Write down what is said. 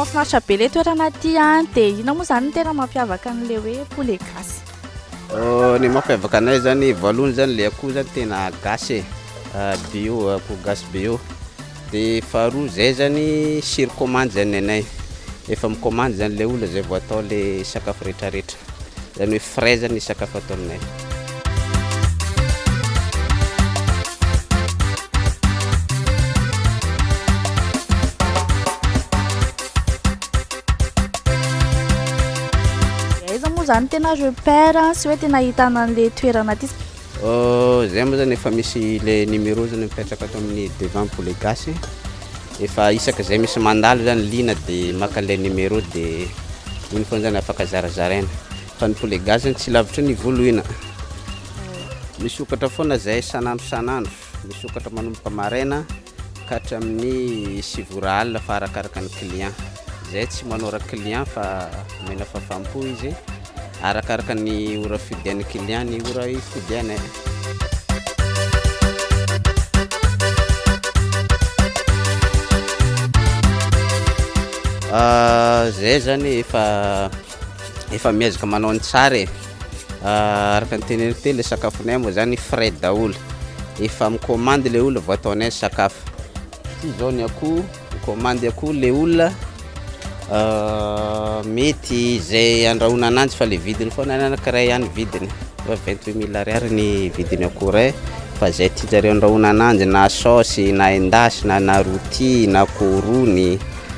mahafinaritra be le toerana aty an dia ina moa zany ny tena mampiavaka an'le hoe poulet gasy oh, ny mampiavaka anay zany voalohany zany le akoho zany tena gasy e ah, bio akoho gasy bio Dia faharoa zay zany sur commande zany ny anay, efa mi-commande zany ilay olona zay vao atao ilay sakafo retraretra, zany hoe frais zany ny sakafo atao aminay. Dia aiza moa zany tena repère sy hoe tena ahitana an'ilay toerana ity? Zay moa zany efa misy le numéro zany mipetraka ato amin'ny devant pour les gasy efa isaka zay misy mandalo zany liana de maka an'ilay numéro de iny foana zany afaka zarazaraina fa ny pour les gasy zany tsy lavitry ny volohina misokatra foana zay san'andro san'andro misokatra manomboka maraina ka hatramin'ny sivy ora alina fa arakaraka ny client. Izay tsy manora client fa omena fahafaham-po izy arakaraka ny ora fidian'ny client ny ora ifidianay. Izay zany efa efa miezaka manao ny tsara e ah, araka ny teneniko teo le sakafonay moa zany frais daholo efa mikomandy le olona vao ataonay ny sakafo ty zao ny akoho mikomandy akoho le olona ah, mety izay andrahona ananjy fa le vidiny foana anankiray ihany vidiny fa 28 mille ariary ny vidiny akoho ray fa zay tianjareo andrahona ananjy na saosy na endasina na roti na korony